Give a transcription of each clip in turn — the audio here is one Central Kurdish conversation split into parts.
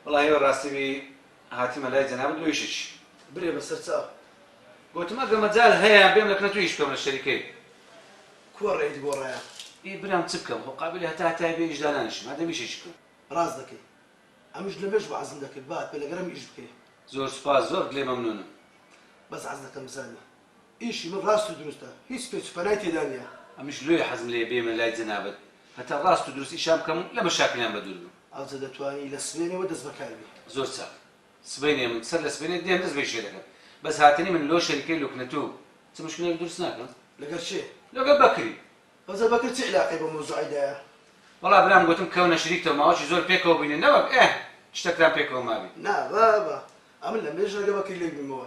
وەڵاهی بەڕاستی بی هاتمە لای جەنابت بۆ ئیشێکی. برێ بە سەر چاو. گۆتم ئەگە مەجال هەیە بێم لە کنەتو ئیش بکەم لە شەریکەی. کووە ڕێیت گۆڕایە؟ ئی برام چ بکەم خۆ قابیلی هەتا هەتایە بێ ئیش دانانیشم هەردەم ئیشێکی بکەم. ڕاست دەکەی ئەمش لەمێژ وەعزم دەکرد با ئەتبێ لەگەرم ئیش بکەی. زۆر سوپاس زۆر لێ مەمنونم. بەس عەز دەکەم بزانی ئیشی من ڕاست و دروستە هیچ پێچ و پەنای تێدا نیە. ئەمنیش لۆیە حەزم لێیە بێمە لای جەنابت هەتا ڕاست و دروست ئیشان بکەم و لە مەشاکلیان بە دوور بم. ئەوجە دەتوانی لە سبەینێوە دەست بەکار بی. زۆر چاک سبەینێ من سەر لە سبەینێ دێم دەست بە ئیشێ دەکەم بەس هاتنی من لۆ شەریکەی لوکنەتوو چ موشکیلێک دروست ناکا؟ لەگەر کێ؟ لەگەر بەکری. ئەوجە بەکر چ عیلاقەی بەو مەوزوعەی دایە؟ وەڵا برام گۆتم کەونە شریکتەوە ماوەکی زۆر پێکەوە بوینە نەوەک ئه شتەکتان پێکەوە مابی. نا بابە ئەمن لەمبێژنەگە بەکری لێک بیمەوە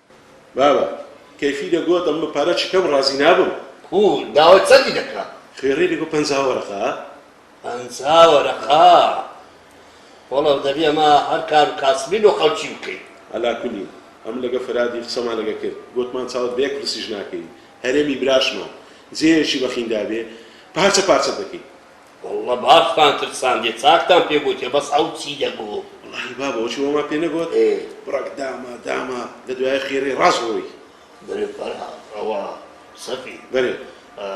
بابە کەیفی دەگۆ دەم بە پارە چکەم ڕازی نابم. کوو داوای چەندی دەکا؟ خوێڕی دەگۆ پەنجا وەرەقە. پەنجا وەرەقە؟ وەڵا دەبی ئەمە هەر کارو کاسبی لۆ خەڵکی بکەی. ئەلا کولین ئەمن لەگە فەرادی قسەمان لەگە کرد گۆتمان چاوت بە یەک پرسیش ناکەوی هەرێمی براشمان جێیەکی بەخین دابێ پارچە پارچەت دەکەین. واللە باختان ترساندیە چاکتان پێ گۆتیە بەس ئەو چی دەگۆ. وەڵاهی بابە ئەوچی وەما پێ نەگۆت بڕەک داما داما لە دوایە خێرەی ڕاست ڕۆی. بەرێ فەرهاد ئەوە سەفی. بەرێ.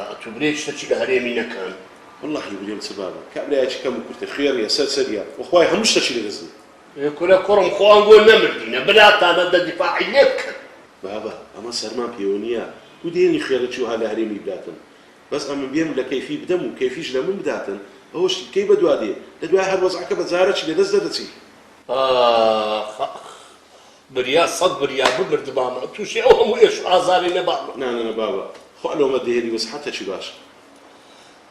ئەتو برێ شتەکی لە هەرێمی نەکەن. وەڵاهی برێم چ بابە کابرایەکی کەم و کورتە خوێڕیە سەرسەریە وەخوای هەموو شتەکی لە دەست دێ. ئێ کورە کوڕم خۆ ئەنگۆ نەمردینە براتانە دە دیفاعی لێ بکەن. بابە ئەمە سەرمان پێوە نیە گو دێنی خوێڕی چی وەها لە هەرێمی براتم بەس ئەمن بێم لە کەیفی بدەم و کەیفیش لە من بداتن ئەوەشی کەی بەدوا دێ لە دوای هەر وەزعەکە بە جارەکی لە دەست دەدەچی. ئاخ ئاخ بریا سەد بریا بمردبام توشی ئەو هەموو ئێش و ئازارەی نەبام. نانەنە بابە خوا لۆمە دێری و سحەتەکی باش.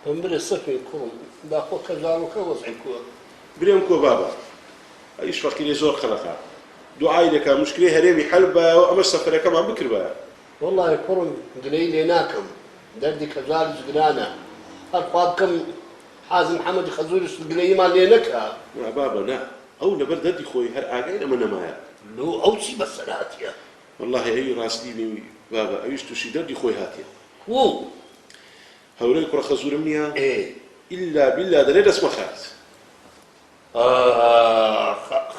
بمبرێ سەفین کوڕم داخۆ کەژاڵۆکە وەزعی کووە. برێم کۆ بابە ئەویش فەقیرێ زۆر قەرەقە دوعای دەکا موشکلەی هەرێمی حەل ببایەوە ئەمەش سەفەرەکەمان بکردبایە وەڵا کوڕم گلەی لێ ناکەم دەردی کەژالیش گرانە هەر خوا بکەم حازم حەمەدی خەزوورشت گلەییمان لێ نەکا. نا بابە نا ئەو لەبەر دەردی خۆی هەر ئاگای لەمە نەمایە. لۆ ئەو چی بەسەر هاتیە. وەڵاهی ئەوی ڕاستی بینی بابە ئەویش تووشی دەردی خۆی هاتیە. کوو؟ هەورەی کوڕە خەزوورم نیە؟ ئێ. ئیلا بیلا دەرێ دەست مەخایت. ئاخ ئاخ.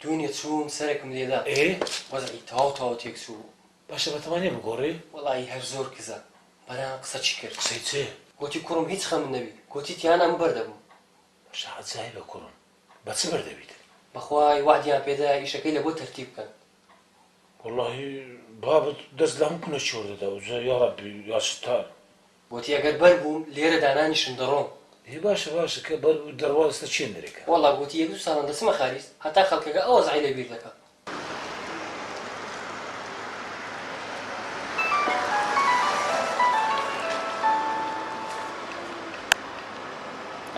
دوێنێ چووم سەرێکم لێدا. ئێ وەزعی تەواو تەواو تێکچوو. باشە بەتەما نیە بگۆڕی؟ وەڵایی هەر زۆر کزە بەرام قسە چی کرد. قسەی چێ؟ گۆتی کوڕم هیچ خەمت نەبی گۆتی تیانا من بەر دەبم. باشە عەجایبە کوڕم بە چ بەر دەبیت. بەخوای وەعدیان پێدایە ئیشەکەی لەبۆ تەرتیب بکەن. وەڵاهی بابت دەست لەهەموو کونە چۆر دەدا ئەوجا یاڕەبی یاستار. گۆتی، ئەگەر بەر بووم، لێرە دانانیشم، دەڕۆم. ئێ باشە باشە، کە بەر بوو دەڕوا، ئێستا چییە نرێکە؟ وەڵڵا گۆتی، یەک دوو ساڵان دەچمە خاریج، هەتا خەڵکەگە ئەو وەزعەی لە بیر دەکەم.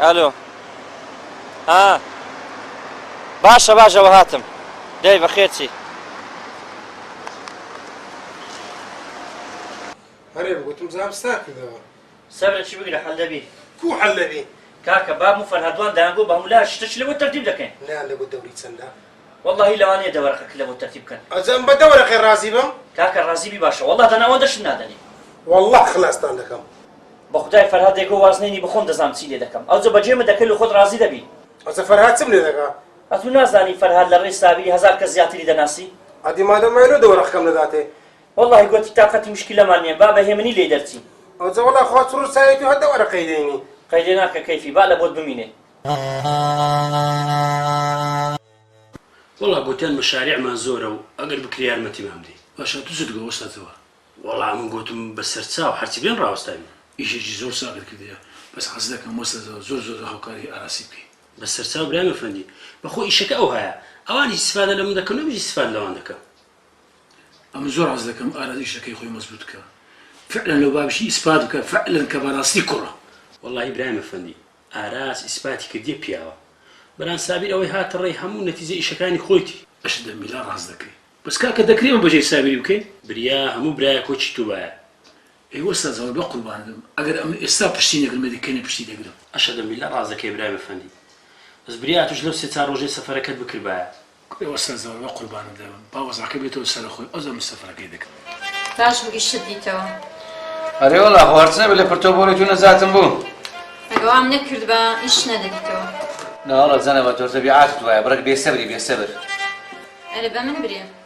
ئەلۆ، ها، باشە باش، ئەوە هاتم. دەی بەخێر چی؟ هەرێم گوتم زار ستار کردەوە. سەبرە چی بگرە حەل دەبی. کوو حەل دەبی. کاکە بابم و فەرهادوان دەیانگۆ بە هەموو لا شتە چ لەوە تەرتیب دەکەین. نەیان دەگۆ دەوری چەندە. وەڵاهی لەوانەیە دە وەرەقە کە لەوە تەرتیب بکەن. ئەزان بە دە وەرەقەی ڕازی بم. کاکە ڕازی بی باشە وەڵا دەنا ئەوەندە شت نادەنێ. وەڵا خەلاستان دەکەم. بە خودای فەرهاد دەیگۆ واز نەینی بە خۆم دەزانم چی لێ دەکەم ئەوجە بە جێمە دەکەی لۆ خۆت ڕازی دەبی. ئەزە فەرهاد چم لێ دەکا. ئەتوو نازانی فەرهاد لە ڕێی سابیری هەزار کەس زیاتری دەناسی. ئەدی مادەم وایە لۆ دە وەرەقەکەم نەداتێ. وەڵاهی گۆتی تاقەتی مشکیلەمان نیە با بە هێمنی لێی دەرچین. ئەوجە وەڵا خۆت ڕوساویت و هەر دە وەرەقەی دەینی. قەیرێ ناکە کەیفی با لە بۆت بمینێ. وەڵا گۆتیان مەشاریعمان زۆرە و ئەگەر بکرێ یارمەتیمان بدەی. باشە تو چت گۆ وەستا تەوە. وەڵا من گۆتم بە سەر چاو هەرچی بێن ڕاوەستاوین. ئیشێکی زۆر چاکت کردیە بەس حەز دەکەم وەستا تەوە زۆر زۆر هاوکاری هی ئاراسی بکەی. بەسەرچاو برام ئەفەندی بەخۆ ئیشەکە ئەوهایە ئەوان ئیستفادە لەمن دەکەن و منیش ئیستفاد لەوان دەکەم ئەمن زۆر حەز دەکەم ئاراس ئیشەکەی خۆی مەزبوت بکا فعلەن لەو بابشی ئیسپات بکا فعلەن کە بەراستی کوڕە. وەڵا ئیبراهیم ئەفەندی ئاراس ئیسپاتی کردیە پیاوە بران سابیر ئەوەی هاتە ڕێی هەموو نەتیجە ئیشەکانی خۆیتی. ئەشت دە میلا ڕاست دەکەی. بەس کاکە دەکرێ ئەمە بەجێی سابیری بکەین؟ بریا هەموو برایە کۆچی توبایە ئەی وەستا جەڵ بەقوربانت بم ئەگەر ئەمن ئێستا پشتی نەگرم لەدی کەنێ پشتی دەگرم. ئەشەدە ملە ڕاست دەکەی برای بەفەندی بەس بریا ئەتوش لەو سێ چار ڕۆژەی سەفەرەکەت بکربایە. ئەی وەستا جەڵ بەقوربانت دەبم با وەزعەکە بێتەوە سەرەخۆی ئەوجا من سەفەرەکەی دەکەم. باش بوو ئیشت دیتەوە. ئەرێ وەڵا خۆ هەرچ نەبێ لە پرتەو بۆنی تو نەجاتم بوو. ئەگە وام نەکردبا ئیش نەدەدیتەوە. ناوەڵا جەنابت تۆ تەبیعاتت وایە بڕێک بێ سەبری بێ سەبر. ئەرێ بەمن برێ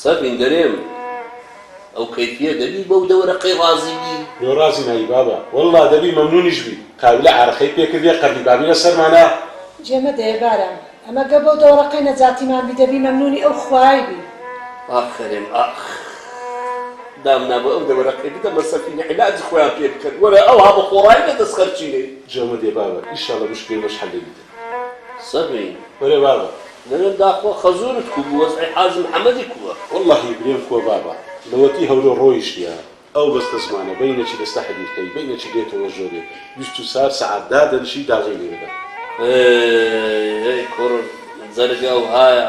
سەر بینگەرێم ئەو کەیفیە دەبی بەو دەوەرەقەی ڕازی بی؟ لۆ ڕازی نابی بابە وەللە دەبی مەمنونیش بی قاولە عارەقەی پێ کردیە قەردی بابی لە سەرمانا. جێ مەدەیە بارام ئەمە گە بەو دەوەڕەقەی نەجاتیمان بی دەبی مەمنونی ئەو خوایەی بی. ئافەرم ئاخ دامنا بە ئەو دەوەرەقەی بدە مە سەفینە علاجی خۆیان پێ بکەن وەرە ئەوها بە خۆڕایی نە دەس خەرچینەی. جێ مەدێ بابە ئیشاڵە مشکلەی مەش حەل دەبیت. سەر بەین بەرێ بابە. نەوێم داخوا خەزورت کو بو وەزعی حاجی محمدی کوە. وەڵاهی برێم کوە بابە لەوەتی هەولێر ڕۆیشتیە ئەو بەستە زمانە بەینەکی دەستە حەدیرکەی بەینەکی دێتەوە ژۆرێ بیست و چار سەعات دادەنشی داجەی لێدەدەن. ئەی ئەی کوڕ جەرگە ئەوهایە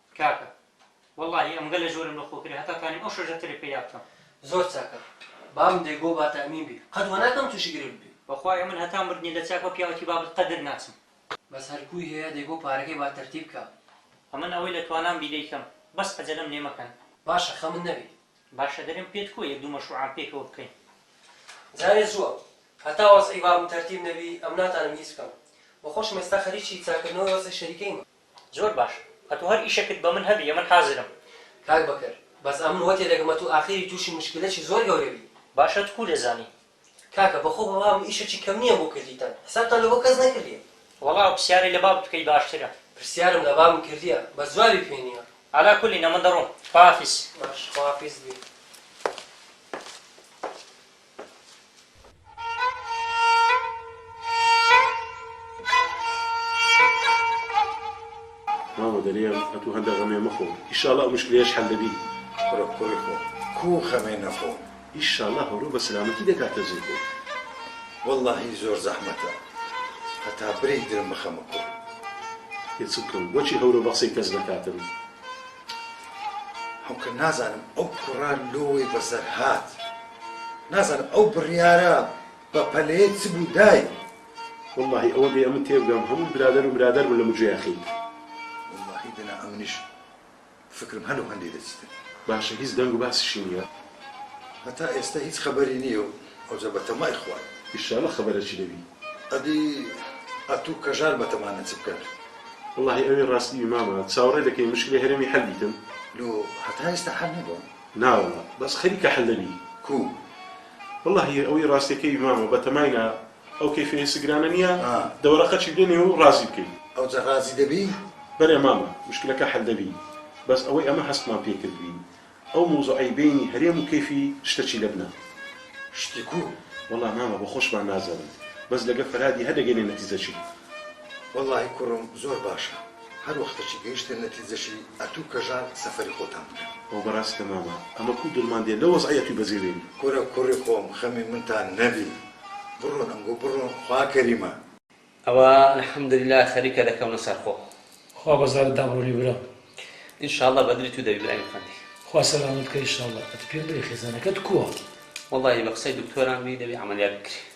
کاکە وەڵاهی ئەمگەلە جۆرم لە خۆ کرێ هەتا تانیم ئەو شەژە ترێ پەیا بکەم. زۆر چاکە بام دەی گۆ با تامین بی قەت وە ناکەم توشی گرفت بی. بەخوای ئەمن هەتا مردنی لە چاک بە پیاوەتی بابت قەدر ناچم. بەس هەر کوی هەیە دەی گۆ پارەکەی با تەرتیب کا. ئەمن ئەوەی لە توانام بی دەی کەم بەس عەجەلەم لێ مەکەن. باشە خەمت نەبی. باشە دەرێم پێت کوە یەک دوو مەشروعام پێکەوە بکەین. جارێ زووە هەتا وەزعی بابم تەرتیب نەبی ئەم ناتانم هیچ بکەم بەخۆشم ئێستا خەریکی چاکردنەوەی وەزعی شەریکەیمە. زۆر باش ئەتو هەر ئیشەکت بە من هەبی ئەمن حازرم. کاک بەکر بەس ئەمن وە تێدەگەم ئەتو ئاخیری توشی موشکیلەکی زۆر گەورە بی. باش ئەتو کو دەزانی. کاکە بەخۆ بە بابم ئیشەکی کەم نیە بۆ کردیتان حسابتان لەبۆ کەس نەکردیە. وەڵا ئەو پسیارەی لە بابت بکەی باشترە. پرسیارم لە بابم کردیە بەس جوابی پێ نیە. عەلا کولین ئەمن دەڕۆم خواحافیز. باش خواحافیز بی. مامە دەرێم ئەتوو هەندە غەمێ مەخۆ ئیشاڵا ئەو مشکلەیەش حەل دەبی بڕۆ کۆی خۆ کو غەمێ نەخۆم ئیشاڵا هەورۆ بە سەلامەتی دەکاتە جێ خۆی وەڵاهی زۆر زەحمەتە هەتا برێک درم بخەمە کۆ پێ چ بکەم بۆچی هەورۆ بە قسەی کەس نەکاتم هەوکە نازانم ئەو کوڕە لۆی بەسەر هات نازانم ئەو بڕیارە بە پەلەیە چ بوو دای. وەڵاهی ئەوە بێ ئەمن تێبگەم هەموو برادەر و برادەر بوون لە مجێ یاخیت. وەڵاهی دەنا ئەمنیش فکرم هەلو هەندی دەچیتن. باشە هیچ دەنگ و باسیشی نییە؟ هەتا ئێستا هیچ خەبەری نییە و ئەوجا بە تەمای خوای. ئیشاڵە خەبەرەکی دەبی. ئەدی ئەتوو کەژار بە تەمانە چ بکەن. وەڵاهی ئەوی ڕاستی بی مامە چاوەڕێ دەکەین مشکلی هەرێمی حەل بیتن. لۆ هەتا ئێستا حەل نەبووە؟ ناوەڵا بەس خەریکە حل دەبی کو. وەڵا هی ئەوەی ڕاستەکەی مامە بەتەماینا ئەو کەیفە ئێنسگرانە نیە دەوەرە قەچی بدە نێو و ڕازی بکەی. ئەوجە ڕازی دەبی؟ بەرێ مامە مشکلەکە حل دەبی بەس ئەوەی ئەمە هەستمان پێی کردبین ئەو موزوعەی بەینی هەرێم و کەیفی شتە چی لەبنە شتی کو. وەڵا مامە بەخۆشمان نازانین بەس لەگە فەرهادی هەر دەگەینە نەتیجە چی. وەڵاهی کوڕم زۆر باشە. هەر وەختەکی گەیشتە نەتیجەکی ئەتوو کەژار سەفەری خۆتان بکەن. ئەوە بەڕاست کە مامە ئەمە کو دڵمان دێ لە وەزعی ئەتووی بەجێ بێنی. کورە کوڕی خۆم خەمی منتان نەبی بڕۆن ئەمگۆ بڕۆن خوا کەریمە. ئەوە الحمدللە خەریکە دەکەونە سەرخۆ. خوا بەزارت دابڕۆنی برا. ان شاء اللە بەدلی تو دەبی برای من فەندی. خوا سەلامەت بکە ان شاء اللە. ئەتو پێم بڵێ خێزانەکەت کووە؟ وەڵاهی بە قسەی دکتۆران بی دەبی عەمەلیات بکری.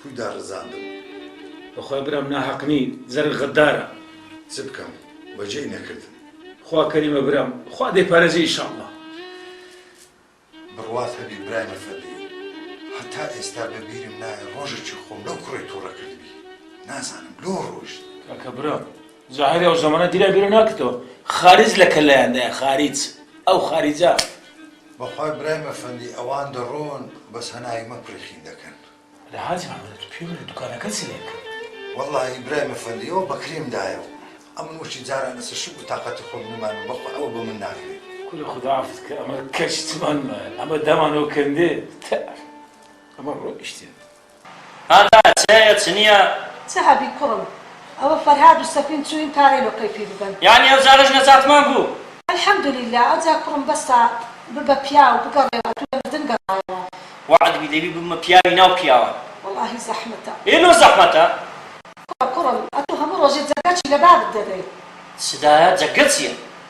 کوی داڕزاندم. بەخوای برام ناهەق نی زەرگ غەدارە. چ بکەم بەجێی نەکردم. خوا کەریمە برام خوا دەیپارێزی ئیشاڵڵا. بڕوات هەبی برای من فەدی هەتا ئێستا بە بیرم نایە ڕۆژەکی خۆم لەو کوڕەی توڕە کردبی نازانم لۆ ڕۆیشت. کاکە برا زاهیری ئەو زەمەنە دیرە بیرو ناکرتەوە خاریج لە کەلایاندایە خاریج ئەو خاریجە. بەخوای برای مەفەندی ئەوان دەڕۆن بەس هەناوی مە پرخین دەکەن. لە حاجی محمد ئەتو پێم بڵێ دوکانەکە چ لێ کرد. وەڵاهی برای مەفەندی ئەوە بەکریم دایە و ئەمن وشی جاران لەسەر شوک و تاقەتی خۆم نمایم و بەخوا ئەوە بە من ناکرێ. کورە خودا عەفوت کە ئەمە کەچ چمان مایە ئەمە دامانەوە کەندێ تە ئەمە ڕۆیشتێ. هاتا چ هەیە چ نیە. چ هەبی کوڕم ئەوە فەرهاد و سەفین چوین تا رێلۆ قەیفی ببەن. یانی ئەو جارەش نەجاتمان بوو. الحمدللە ئەوجا کوڕم بەسە ببە پیاو بگەڕێوە ئەتوو لە مردن گەڕایەوە. وەعد بی دەبی ببمە پیاوی ناو پیاوان. وەڵاهی زەحمەتە. ئێ لۆ زەحمەتە. کوڕە کوڕم ئەتوو هەموو ڕۆژێ جەرگەچی لەبابت دەبێ. سدایە جەگە چیە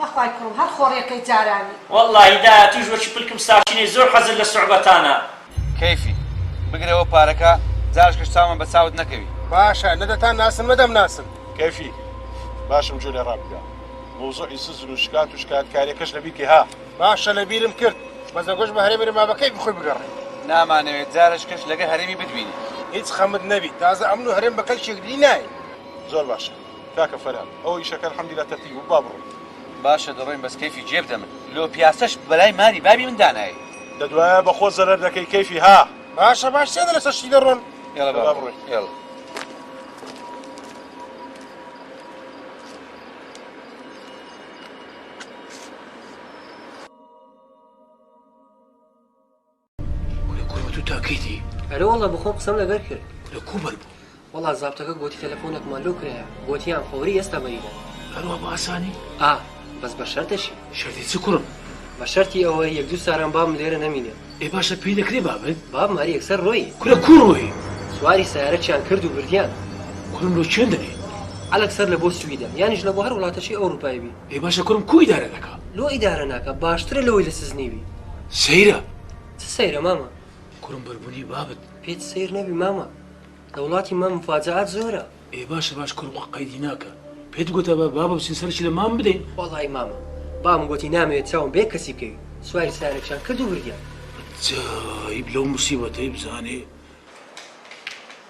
بەخوای کوڕم هەر خۆڕیەکەی جارانی. وەڵا هی داهاتووش وەکی پلکم ساشینەی زۆر حەزت لە سوعبەتانە. کەیفی بگرەوە پارەکە جارشکەش چاومان بە چاوت نەکەوی. باشە نە دەتان ناسن مە دەم ناسن. کەیفی باشم گوێ لێ ڕا بگرە موزوعی سزن و شکات و شکات کاریەکەش لە بیرکەی ها. باشە لە بیرم کرد بەس دەگۆش بە هەرێمی رما بە کەیفی خۆی بگەڕێ. نامانەوێ جارشکەش لەگە هەرێمی بتبینین. هیچ خەمت نەبی تازە ئەمن و هەرێم بە کەلکیەک دی ناین. زۆر باشە کاکە فەرهاد ئەوە ئیشەکە الحمدللە تەرتیب بوو با بڕۆین. باشە دەڕۆین بەس کەیفی جێ بدە من لۆ پیاسەش بەلای ماری بابی من دانایەی. دە دوایە بە خۆت زەرەر دەکەی کەیفی ها. باشە باش سێ دە لەسەر شتی دەڕۆن. ئێڵە با بڕۆین ئێڵە. کورە کورە تو تاکەیتی ئەرێ وەڵا بەخۆم قسەم لەگەر کرد کورە کو بەر بوو وەڵا زابتەکە گۆتی تەلەفۆنێکمان لۆ کرایە گۆتیان فەوری ئێستا بەریدە هەروە بە ئاسانی ئا بەس بە شەرتەشی شەرتی چ کوڕم بە شەرتی ئەوە یەک دوو ساران بابم لێرە نەمینێ ئێ باشە پێی دەکرێ بابت بابم هەر یەکسەر ڕۆی کورە کو ڕۆی سواری سەیارەکیان کرد و بردیان کوڕم لۆ چێن دەبێ عەلەک سەر لە بۆ سویدە یانیش لە بۆ هەر وڵاتەکی ئەوروپای بی ئەی باشە کوڕم کو ئیدارە دەکا. لۆ ئیدارە ناکا باشترە لەوەی لە سجنی بی. سەیرە. چ سەیرە مامە. کوڕم بەربونی بابت. پێت سەیر نەبی مامە لە وڵاتی مام مفاجعات زۆرە. ئێ باشە باش کوڕم خۆ قەیدی ناکا پێت گۆتا با بابە بچین سەرکی لە مام بدەین. وەڵای مامە بابم گۆتی نامەوێ چاوم بەیەک کەسی بکەوی سواری سیارەکیشان کرد و بردیان. عەجایب لەو موسیبەتەی بزانێ.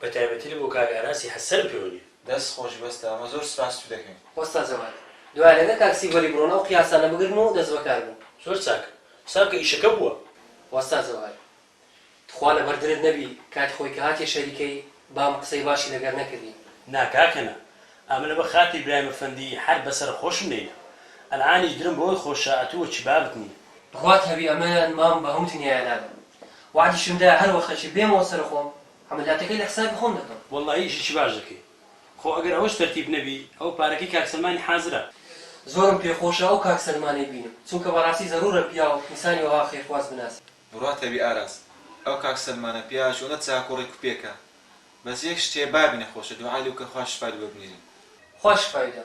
بە تایبەتی لە بۆ کاک ئاراسی حەسەن پێونی. دەست خۆش بەستە ئەمە زۆر سپاست و دەکەین. وەستا جەواد دوای لەگەر کاک سیڤەری بڕۆن ئەو قیاسانە بگرن و دەست بەکار بن. زۆر چاک حساب کە ئیشەکە بووە. وەستا جەواد تخوا لەبەر درت نەبی کاتی خۆی کە هاتیە شەریکەی بام قسەی باشی لەگەر نەکردی. نا کاکە نا ئەمنە بە خاتری برایم ئەفەندی هەر بە سەرە خۆشم نەینا ئەلعانیش درم بەوەی خۆشە ئەتوو وەکی بابت نیە. بڕوات هەبی ئەمن مام بە هەموو دنیایە نادەم وەعدیشم دا هەر وەختەکی بێمەوە سەر خۆم عەمەلیاتەکەی لە حسابی خۆم دەکەم. وەڵڵاهی ئیشێکی باش دەکەی خۆ ئەگەر ئەوەش تەرتیب نەبی ئەوە پارەکەی کاک سەلمانی حازرە. زۆرم پێ خۆشە ئەو کاک سەلمانەی بینم چونکە بەڕاستی زەرورە پیاو ئینسانی وەها خێرخواز بناسێ. بڕات هەبی ئاراس ئەو کاک سەلمانە پیاوە چۆنە چاک و ڕێک و پێکە بەس یەک شتێ بابی نەخۆشە دوعای لێ بکە خوا شفای لێ ببنیرێ. خوا شفای دا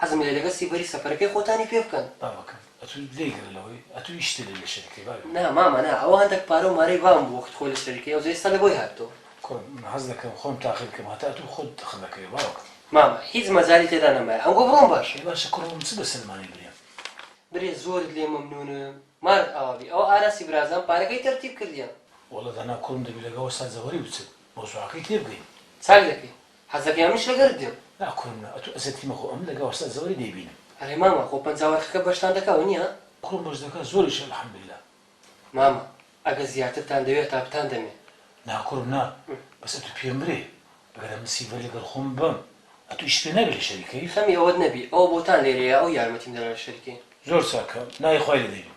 حەزم لێیە لەگەر سیڤەری سەفەرەکەی خۆتانی پێ بکەن. بابەکەم ئەتو لێ گرە لەوەی ئەتو هیچ شتێ لێ لێ شەریک کەی بابی. نا مامە نا ئەوە هەندەک پارە و مارەی بام بوو وەخت خۆی لە شەریک کەی ئەوجە ئێستا لە بۆی هاتتەوە. کوڕم من حەز دەکەم خۆم تاقی بکەم هەتا ئەتو خۆت دخت لە کەی باوەکەم. مامە هیچ مەجالی تێدا نەمایە ئەمگۆ بڕۆم باشە. ئەی باشە کوڕە من چ بە سەلمانی برێم. برێ زۆرت لێ مەمنونم مارت ئاوا بی ئەوە ئاراسی برازان پارەکەی تەرتیب کردیە. وەڵا دانا کوڕم دەبی لەگەڵ وەستا جەوەری بچن مەوزوعەکەی تێ بگەین. چاک دەکەی حەزەکەی من شەگەرت دێم. نا کوڕم نا ئەتو ئەزێتی مەخۆ ئەمن لەگەڵ وەستا زەوەری دەیبینم. ئەرێ مامە خۆ پەنجا وەرخەکە بەشتان دەکا ونیە. کوڕم بەش دەکا زۆریشە الحمدللە. مامە ئەگەر زیاترتان دەوێ تا بتان دەمێ. نا کوڕم نا بەس ئەتو پێم برێ ئەگەر ئەمن سیڤەر لەگەڵ خۆم ببەم ئەتو ئیشت پێ نابێ لە شەریکەی. خەمی ئەوەت نەبی ئەوە بۆتان لێرەیە ئەو یارمەتیم دەدا لە شەریکەی. زۆر چاکە ناوی خوای لێ دەینم.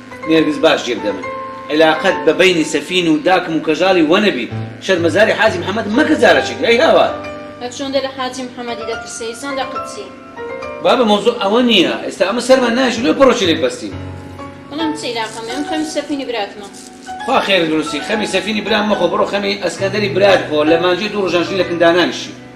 نێرگز باش جێ بدە من عیلاقەت بە بەینی سەفین و داکم و کەژاڵی وە نەبی شەرمەزاری حاجی محمد مەکە زارەچیت ئەی هاوار. هەر چۆندە لە حاجی محمدی دەترسێی سەندە قدسی. بابە مەوزوع ئەوە نیە ئێستا ئەمە سەرمان نایەشی لۆ پەڕۆکی لێک بەستین. بەڵام چ ئیلاقەمە من خەمی سەفینی براتمە. خوا خێرت بنوسی خەمی سەفینی برام مەخۆ بڕۆ خەمی ئەسکەندەری برات بخۆ لە مانجەی دوو ڕژان ژنی لە کن دانانیشی.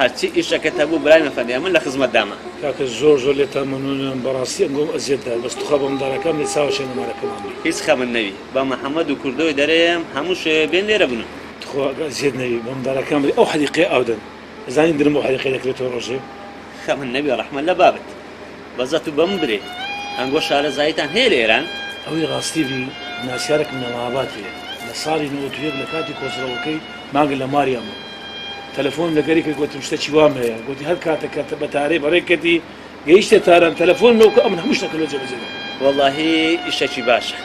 هەرچی ئیشەکت هەبوو برای من فەرموو من لە خزمەتدامە. کاکە زۆر زۆر لێتان مەمنونم بەڕاستی ئەنگۆم ئەزیەت دا بەس توخوا بەمندالاکام لێ چاوە شێنە مارەکەمان بی. هیچ خەمت نەبی با محمد و کوردۆی دەرێم هەموو شەوێ بێن لێرە بنوون. تخوا گا زیەت نەبی بە مندالاکام بری ئەو حەدیقەیە ئاو دەن ئەزانی درم بەو حەدیقەیە دەکرێتەوە ڕۆژێ. خەمت نەبی ڕەحمەت لە بابت. بەزەت و بەم برێ ئەنگۆ شارەزاییتان هەیە لە ئێران؟ ئەوەی ڕاستی ڤی ناسیارێکم لە مەهاباد هەیە لە ساڵی نەوەد و یەک لە کاتی کۆچڕەوەکەی مانگە لە ماریان بوو تەلەفۆنم لەگەری کرد گۆتم شتە چی وام هەیە گۆتی هەر کاتە کە بە تارێ بەڕێ کەتی گەیشتە تاران تەلەفۆن لۆکە ئەمن هەموو شتەکە لۆ جێبەجێ دەکەم. وەڵاهی ئیشەکی باشە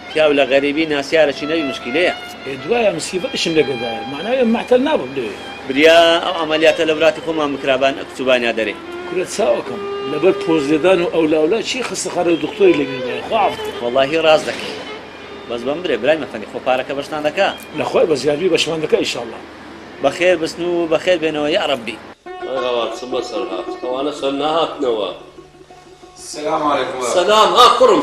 پیاو لە غەریبی ناسیارە چی نەبی موشکیلەیە. ئێ دوایە مسیڤە ئیشم لەگەدایە مەعناویە من مەعتەل نابم لەوێ. بریا ئەو عەمەلیاتە لە ولاتی خۆمان بکرا بان ئەکچوبانیا دەرێ. کورە چاوەکەم لەبەر پۆز لێدان و ئەولا ئەولا چی خەستەخانە و دختۆری لێ گربایە خوا عەفو بکا. وەڵاهی ڕاست دەکەی بەس بەم برێ برای مەفەندی خۆ پارەکە بەشتان دەکا. لەخوای بەس یاربی بەشمان دەکا ئیشاڵا. بەخێر بچن و بەخێر بێنەوە یاڕەبی. ئەی ئەوە چ بەسەر هات ئەوانە چەند نەهاتنەوە. سلام علیکم سلام ها کوڕم.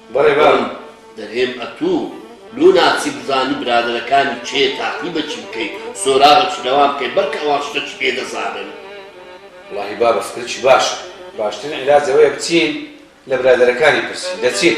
بەڕێبەم دەرێم ئەتو لۆ ناچی بزانی برادەرەکانی چێ تاقی بە چی بکەی سۆراغە چ لەوان بکەی بەلکە ئەوان شتە چ پێ دەزانن. وەڵاهی بابە فکرەکی باشە باشترین عیلاج ئەوەیە بچین لە برادەرەکانی پرسین دەچین.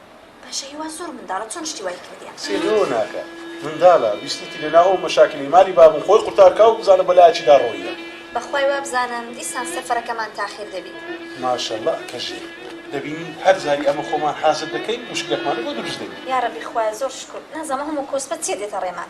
باشە هیوا زۆر منداڵە چۆن شتی وای کردیە سیر لەوە ناکە مندالە ویستیتی لەناو ئەو مەشاکلی مالی بابم خۆی قورتار کا و بزانە بە لایەکی دا ڕۆییە بەخوای وابزانم دیسان سەفەرەکەمان تاخیر دەبی ماشەڵا کەژێ دەبینی هەر جاری ئەمە خۆمان حازر دەکەین مشکلەکمانە بۆ دروست دەبی یاڕەبی خوایە زۆر شکر نازەمە هەموو کۆسپە چێ دێتە ڕێمان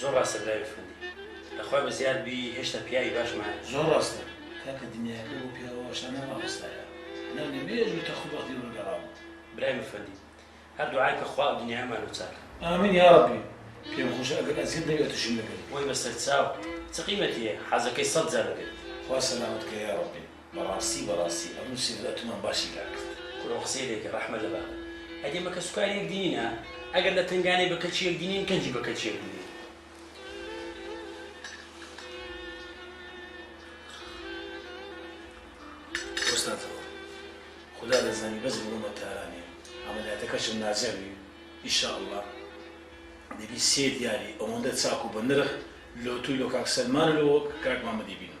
زۆر ڕاستە برای ئەفەندی. لە خوای بە زیاد بی هێشتا پیاوی باش مایە. زۆر ڕاستە کاکە دنیایەکە بۆ پیاوە وەشانە مامۆستایە لە مێژوو تەخت و بەغدی ڕوویگەڕاون. برای ئەفەندی هەر دوعای کە خوا ئەودنیایەمان لۆ چاکە. ئامین یاڕەبی پێم خۆشە ئەگەر ئەزیەت نەبێ ئەتوشم لەگەل. وەی بەسەرچاو چ قیمەتیە حەزەکەی سەد جار ئەبێت. خوا سەلامەت کە یاڕەبی. بەڕاستی بەڕاستی ئەبوو سیبرا تومان باشی لا کرد. کورە قسەی لێکە ڕەحمە لە بابت ئەگەر بە کەس و کار یەک دینینە ئەگەر لە تەنگانەی بە کەچی یەک دینین کەنجی بە کەچی یەک دینین. وەستاتەوە خودا دەزانی بەس بڕۆمە تاران یان عەمەلیاتەکەشم ناجەوی ان شاء اللە دەبی سێ دیاری ئەوەندە چاک و بە نرخ لۆ تو لۆ کاک سەلمان و لۆ کاک مامە دەیبینم.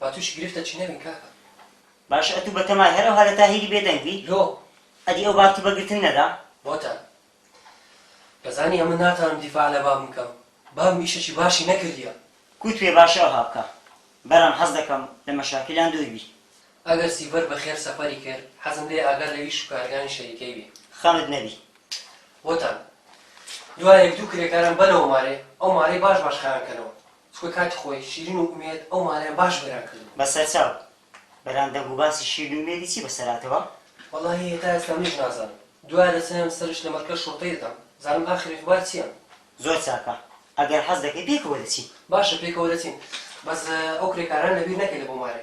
با توشی گرفتە چی نەبین کاکە. باشە ئەتوو بە تەمای هەر ئەوها لە تاهیری بێ دەنگ بی؟ لۆ؟ ئەدی ئەو بابتی بە گرتن نەدا؟ بۆتان؟ دەزانی ئەمن ناتانم دیفاع لە بابم کەم بابم ئیشەکی باشی نەکردیە. کوت پێ باشە ئەوها بکە. برام حەز دەکەم لە مەشاکیلان دوور بی. ئەگەر سیڤەر بە خێر سەفەری کرد حەزم لێیە ئاگا لە ئیش و کارەکانی شەریکەی بی. خەمت نەبی. بۆتان؟ دوایە یەک دوو کرێکارم بەنەوە مارێ ئەو مارەی باش باش خایان کەنەوە چونکە کاتی خۆی شیرین و ئومێد ئەو مارەیان باش وێران کردبوو. بە سەرچاو، برام دەنگ و باسی شیرین و ئومێدی چی بەسەر هاتەوە؟ وەڵاهی هێتا ئێستا منیش نازانم دوایە دەچنم سەرش لە مەرکەز شوڕتەی دەدەم بزانم ئاخر ئەخبار چیە. زۆر چاکە ئەگەر حەز دەکەی پێکەوە دەچین. باشە پێکەوە دەچین بەس ئەو کرێکارانە لەبیر نەکەی لە بۆ مارێ.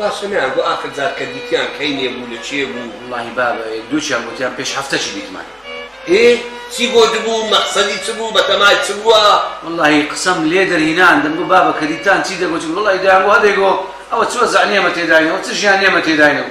باشە نەیان گۆ ئاخر جار کە دیتیان کەی نێ بوو لە چێ بوو؟ وەڵاهی بابە یەک دووکیان گۆتیان پێش هەفتەکی دیتمان. ئێ چی گۆتبوو مەقسەدی چ بوو بەتەمای چ بووە؟ وەڵاهی قسەم لێ دەرهینان دەمگۆ بابە کە دیتتان چی دەگۆتین وەڵاهی دەیانگۆ هەدەیگۆ ئەوە چ وەزع نێمە تێداینەوە چ ژیان نێمە تێداینەوە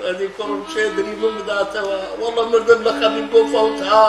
ئەدی کوڕم کێ دریبم بداتەوە وەڵڵە مردم لە خەمی بۆ فەوت ها.